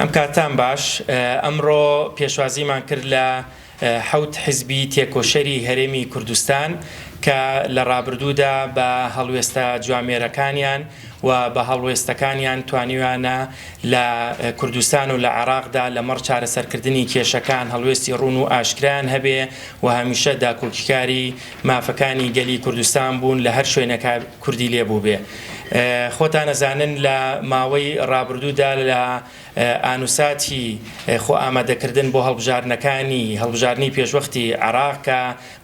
ئەم کاتان باش ئەمڕۆ پێشوازیمان کرد لە حەوت حزبی تێکۆشەری هەرێمی کوردستان کە لە ڕابردوودا بە هەڵوێستە جوامێرەکانیان و بە هەڵوێستەکانیان توانیویانە لە کوردستان و لە عێراقدا لەمەڕ چارەسەرکردنی کێشەکان هەڵوێستی ڕون و ئاشکرایان هەبێ و هەمیشە داکۆکیکاری مافەکانی گەلی کوردستان بوون لە هەر شوێنەکە کوردی لێ بووبێ خۆتان ئەزانن لە ماوەی ڕابردوودا لە ئانوساتی خۆ ئامادەکردن بۆ هەڵبژاردنەکانی هەڵبژاردنی پێشوەختی عێراق کە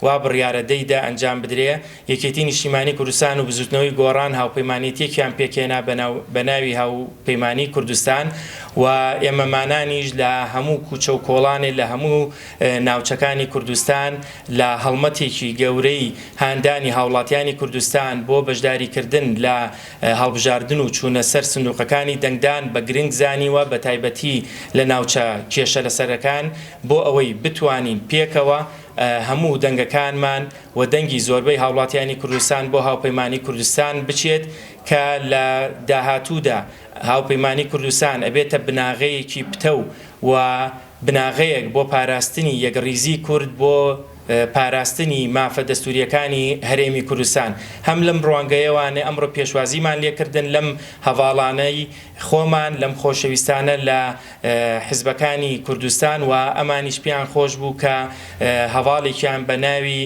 وا بڕیارە دەی دە ئەنجام بدرێ یەکێتی نیشتیمانی کوردستان و بزوتنەوەی گۆڕان هاوپەیمانێتیەکیان پێکهێنا بە ناوی هاوپەیمانی کوردستان و ئێمەمانانیش لە هەموو کوچە و کۆڵانێ لە هەموو ناوچەکانی کوردستان لە هەڵمەتێکی گەورەی هاندانی هاوڵاتیانی کوردستان بۆ بەشداریکردن لە هەڵبژاردن و چوونە سەر سندوقەکانی دەنگدان بە گرنگ زانیوە بەتایبەتی لە ناوچە کێشە لەسەرەکان بۆ ئەوەی بتوانین پێکەوە هەموو دەنگەکانمان و دەنگی زۆربەی هاوڵاتیانی کوردستان بۆ هاوپەیمانی کوردستان بچێت کە لە داهاتوودا هاوپەیمانی کوردستان ئەبێتە بناغەیەکی پتەو و بناغەیەک بۆ پاراستنی یەکڕیزی کورد بۆ پاراستنی مافە دەستوریەکانی هەرێمی کوردستان هەم لەم ڕوانگەیەوانێ ئەمڕۆ پێشوازیمان لێکردن لەم هەڤاڵانەی خۆمان لەم خۆشەویستانە لە حزبەکانی کوردستان و ئەمانیش پێیان خۆش بوو کە هەڤاڵێکیان بە ناوی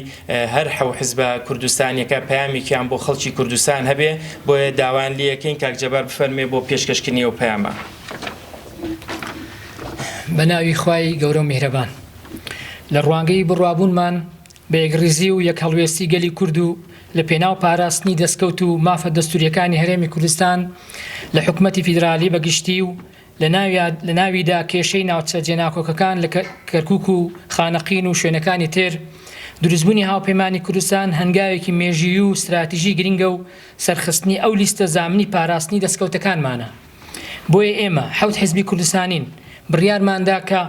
هەر حەو حزبە کوردستانیەکە پەیامێکیان بۆ خەڵکی کوردستان هەبێ بۆیە داوایان لێیەکەین کاک جەبار بفەرمێ بۆ پێشکەشکردنی ئەو پەیامە. بە ناوی خوای گەورە و میهرەبان لە ڕوانگەی بڕوابوونمان بە یەکڕیزی و یەک هەڵوێستی گەلی کورد و لە پێناو پاراستنی دەستکەوت و مافە دەستوریەکانی هەرێمی کوردستان لە حکومەتی فیدرالی بە گشتی و لە ناویدا کێشەی ناوچە جێناکۆکەکان لە کەرکک و خانەقین و شوێنەکانی تر دروستبوونی هاوپەیمانی کوردستان هەنگاوێکی مێژیی و ستراتیژی گرنگە و سەرخستنی ئەو لیستە زامنی پاراستنی دەستکەوتەکانمانە. بۆیە ئێمە، حەوت حزبی کوردستانین، بڕیارمان دا کە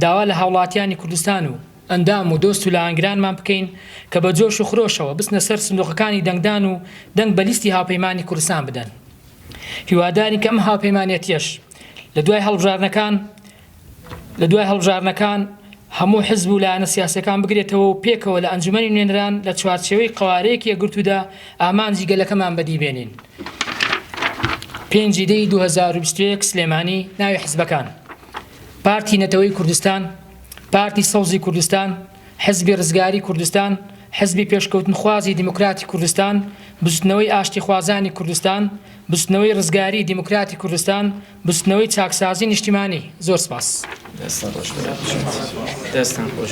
داوا لە هاوڵاتیانی کوردستان و ئەندام و دۆست و لایەنگرانمان بکەین کە بە جۆش و خرۆشەوە بچنە سەر سندوقەکانی دەنگدان و دەنگ بە لیستی هاوپەیمانانی کوردستان بدەن. هیوادارین کە ئەم هاوپەیمانێتیەش لە دوای هەڵبژاردنەکان، لە دوای هەڵبژاردنەکان هەموو حزب و لایەنە سیاسیەکان بگرێتەوە و پێکەوە لە ئەنجومەنی نوێنەران لە چوارچێوەی قەوارەیەکی یەکگرتوودا ئامانجی گەلەکەمان بەدی بێنین. پێنجی دەی 2021 سلێمانی ناوی حزبەکان پارتی نەتەوەی کوردستان پارتی سەوزی کوردستان حزبی ڕزگاری کوردستان حزبی پێشکەوتنخوازی دیموکراتی کوردستان بزوتنەوەی ئاشتیخوازانی کوردستان بزوتنەوەی ڕزگاری دیموکراتی کوردستان بزوتنەوەی چاکسازی نیشتیمانی زۆر سپاس.